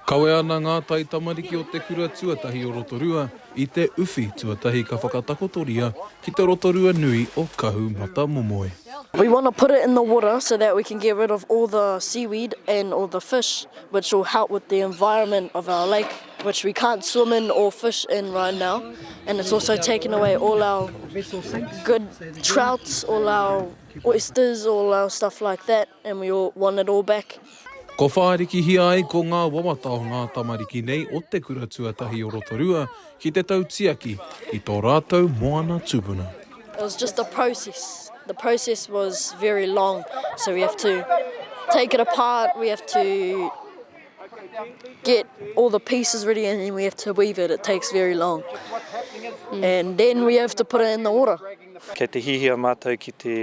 Kawe ana ngā taitamariki o te kura tuatahi o Rotorua i te uwhi tuatahi ka whakatakotoria ki te Rotorua nui o Kahu Matamomoe. We want to put it in the water so that we can get rid of all the seaweed and all the fish which will help with the environment of our lake. which we can't swim in or fish in right now and it's also taken away all our good trouts all our oysters all our stuff like that and we all want it all back Ko whārikihia ai ko ngā wawata o ngā tamariki nei o te kura tuatahi o Rotorua ki te tautiaki i tō rātou moana tupuna. It was just a process. The process was very long. So we have to take it apart, we have to get all the pieces ready and then we have to weave it. It takes very long. Mm. And then we have to put it in the water. Kei te hihia mātou ki te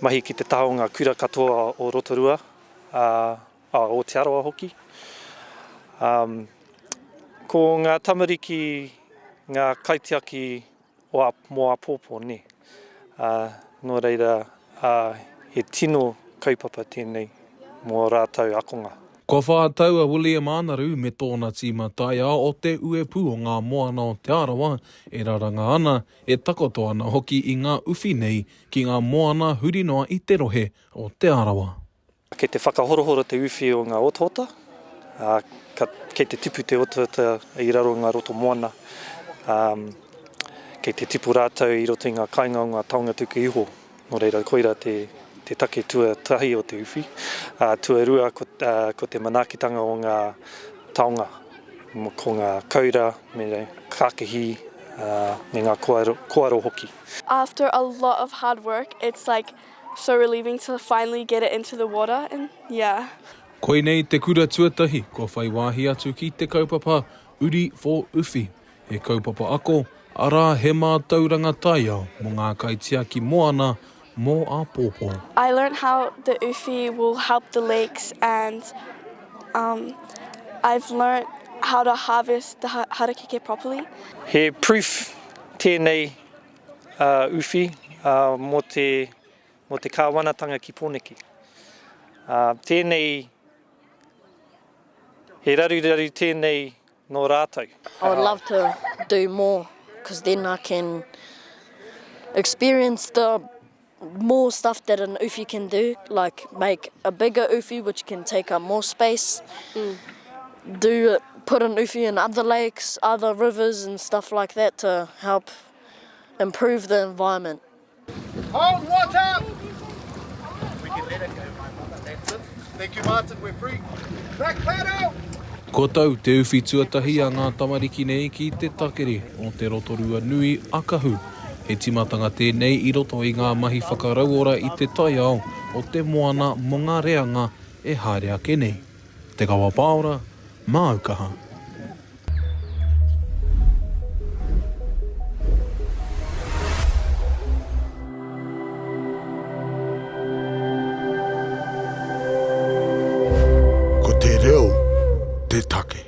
mahi ki te taha o ngā kura katoa o Rotorua, a, a Aotearoa hoki. Um, ko ngā tamariki, ngā kaitiaki o a, mō āpōpō, nē. Ā, nō reira, ā, he tino kaupapa tēnei mō ō rātou akonga. Kua whā tau a William Ānaru me tōna tīma taiao o Te Uepū o Ngā Moana o Te Arawa e raranga ana, e takoto ana hoki i ngā uwhi nei ki ngā moana huri noa i te rohe o Te Arawa. Kei te whakahorohoro te uwhi o ngā otaota, ā, ka, kei te tipu te otaota i raro i ngā roto moana, ā, kei te tipu rātou i roto i ngā kainga o ngā taonga tuku iho. Nō reira, koira te, te take tuatahi o te uwhi. Ā, tuarua, ko, ā, ko te manaakitanga o ngā taonga, ko ngā koura me ngā kākihi, ā, me ngā koaro, koaro hoki. After a lot of hard work, it's like So relieving to finally get it into the water and yeah. Koinei te kura tuatahi kua whai wāhi atu ki te kaupapa Uri for Uwhi, he kaupapa ako, arā he mātauranga taiao mō ngā kaitiaki moana mō āpōpō. I learnt how the uwhi will help the lakes and um I've learnt how to harvest the harakeke properly. He proof tēnei Uh, uwhi uh, mo te mo te kāwanatanga ki Pōneke. Uh, tēnei, he raruraru tēnei nō rātou. I would love to do more, because then I can experience the more stuff that an uwhi can do, like make a bigger uwhi which can take up more space, do put an uwhi in other lakes, other rivers and stuff like that to help improve the environment. Hold water! We can let it go, my mother, that's it. Thank you, Martin, we're free. Black paddle! Ko tau te uwhi tuatahi a ngā tamariki nei ki te takere o te Rotorua nui a Kahu. He tīmatanga tēnei i roto i ngā mahi whakarauora i te taiao o te moana mō ngā reanga e haere ake nei. Te Kawa Pāora, māu kaha. Ko te reo te take.